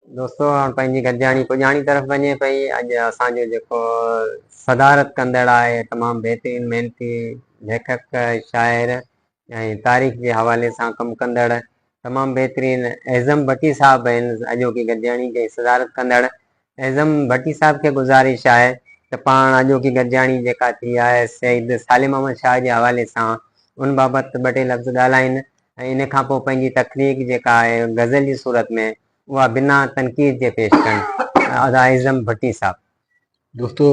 دوستو هاڻ پنهنجي گڏجاڻي پڄاڻي طرف وڃي پئي اڄ اسان جو جيڪو صدارت ڪندڙ آهي تمام بهترين محنتي ليکڪ شاعر ۽ تاريخ جي حوالي سان ڪم ڪندڙ تمام بهترين اعظم ڀٽي صاحب آهن اڄوڪي گڏجاڻي جي صدارت ڪندڙ اعظم ڀٽي صاحب کي گذارش آهي ته پاڻ اڄوڪي گڏجاڻي جيڪا ٿي آهي سيد سالم احمد شاهه جي حوالي سان ان بابت ٻه ٽي لفظ ڳالهائين ۽ ان کان پوء پنهنجي تخليق جيڪا آهي غزل جي صورت ۾ اها بنا تنقيد جي پيش ڪن ادا اعظم ڀٽي صاحب. دوستو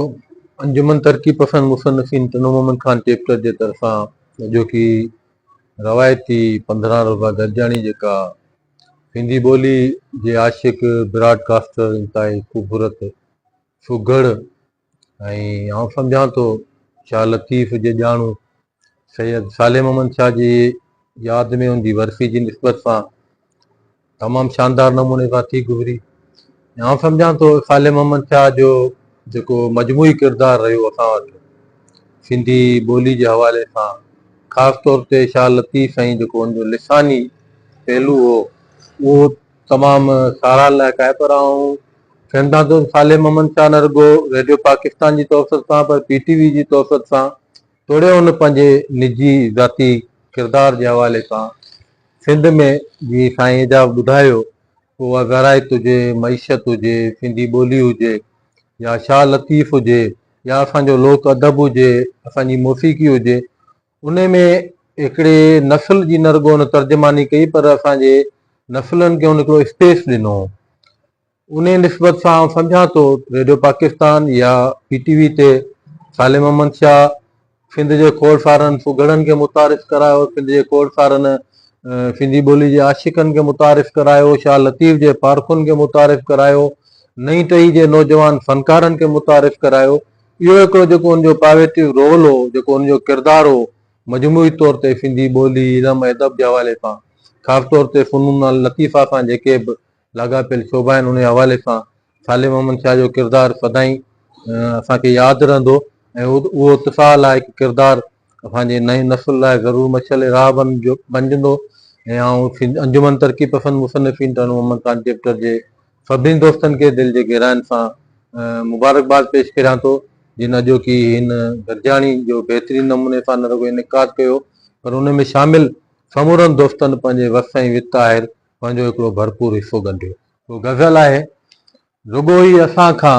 انجمن ترقي پسند مصنفين ٽنو مومن خان چيپٽر جي طرفان اڄوڪي روايتي پنڌران روزه گڏجاڻي جيڪا سنڌي ٻولي جي عاشق براڊ ڪاسٽر انتهائي خوبصورت سگهڙ ۽ آئون سمجهان ٿو شاهه لطيف جي ڄاڻو سيد صالح محمد شاهه جي ياد ۾ ان جي ورسي جي نسبت سان تمام شاندار نموني سان ٿي گذري ۽ آئون سمجهان ٿو صالح محمد شاهه جو جيڪو مجموعي ڪردار رهيو اسان وٽ سنڌي ٻولي جي حوالي سان خاص طور تي شاهه لطيف سائين جيڪو ان جو لساني پهلو هو اهو تمام ساراهه لائق آهي پر آئون سينڌان دوست صالح محمد شاهه نه رڳو ريڊيو پاڪستان جي توسط سان پر پي ٽي وي جي توسط سان توڙي هن پنهنجي نجي ذاتي ڪردار جي حوالي سان سنڌ ۾ جي سائين ايجاز ٻڌايو اها زراعت هجي معيشت هجي سنڌي ٻولي هجي يا شاهه لطيف هجي يا اسان جو لوڪ ادب هجي اسان جي موسيقي هجي انهي ۾ هڪڙي نسل جي نه رڳو هن ترجماني ڪئي پر اسان جي نسلن کي هن هڪڙو اسپيس ڏنو. انهي نسبت سان آئون سمجهان ٿو ريڊيو پاڪستان يا پي ٽي وي تي صالح محمد شاهه سنڌ جي کوڙ سارن سگهڙن کي متعارف ڪرايو، سنڌ جي کوڙ سارن سنڌي ٻولي جي عاشقن کي متعارف ڪرايو، شاهه لطيف جي پارکن کي متعارف ڪرايو، نئين ٽهي جي نوجوان فنڪارن کي متعارف ڪرايو. اهو هڪڙو جيڪو ان جو پاويٽيو رول هو، جيڪو ان جو ڪردار هو، مجموعي طور تي سنڌي ٻولي، علم ۽ ادب جي حوالي سان، خاص طور تي فنون اللطيفه سان جيڪي به لاڳاپيل شعبا آهن، انهيء حوالي سان صالح محمد شاهه جو ڪردار سدائين اسان کي ياد رهندو ۽ اهو اتساهه لائق ڪردار اسان جي نئين نسل لاء ضرور مشعل راهه بنجندو ۽ آئون انجمن ترقي پسند مصنفين ٽرن وومن ڪان چيپٽر جي سڀني دوستن کي دل جي گهراين سان مبارڪباد پيش ڪريان ٿو جن اڄوڪي هن گڏجاڻي جو بهترين نموني سان نه رڳو انعقاد ڪيو پر ان ۾ شامل سمورن دوستن پنهنجي وس ۽ وت آهر پنهنجو هڪڙو ڀرپور حصو ڳنڍيو. ڪو غزل آهي رڳو ئي اسان کان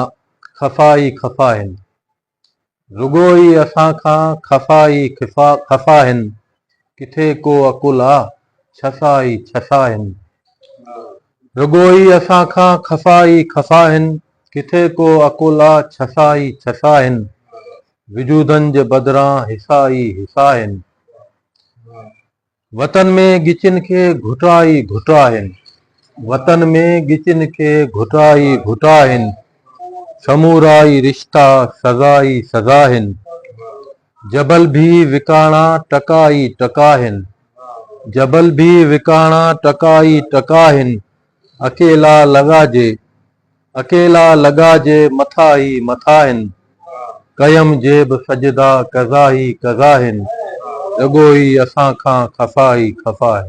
خفا ئي خفا هند. رڳو ئي اسان کان خفا ئي خفا هن. ڪٿي ڪو عقل آ، ڇسا ئي ڇسا هن. رڳو ئي اسان کان خفا ئي خفا هن. ڪٿي ڪو عقل آ، ڇسا ئي ڇسا هن. وجودن جي بدران حصا ئي حصا هن. وطن ۾ ڳچين کي گهٽا ئي گهٽا آهن. وطن ۾ ڳچين کي گهٽا ئي گهٽا آهن. سمورا ئي رشتا سزا ئي سزا آهن. جبل ڀي وڪاڻا ٽڪا ئي ٽڪا آهن. جبل ڀي وڪاڻا ٽڪا ئي ٽڪا آهن. اڪيلا لڳا جي اڪيلا لڳا جي مٿا هي مٿا هن ڪيم جي به سجدا قضا هي قضا هن رڳو هي اسان کان خفا هي خفا هن.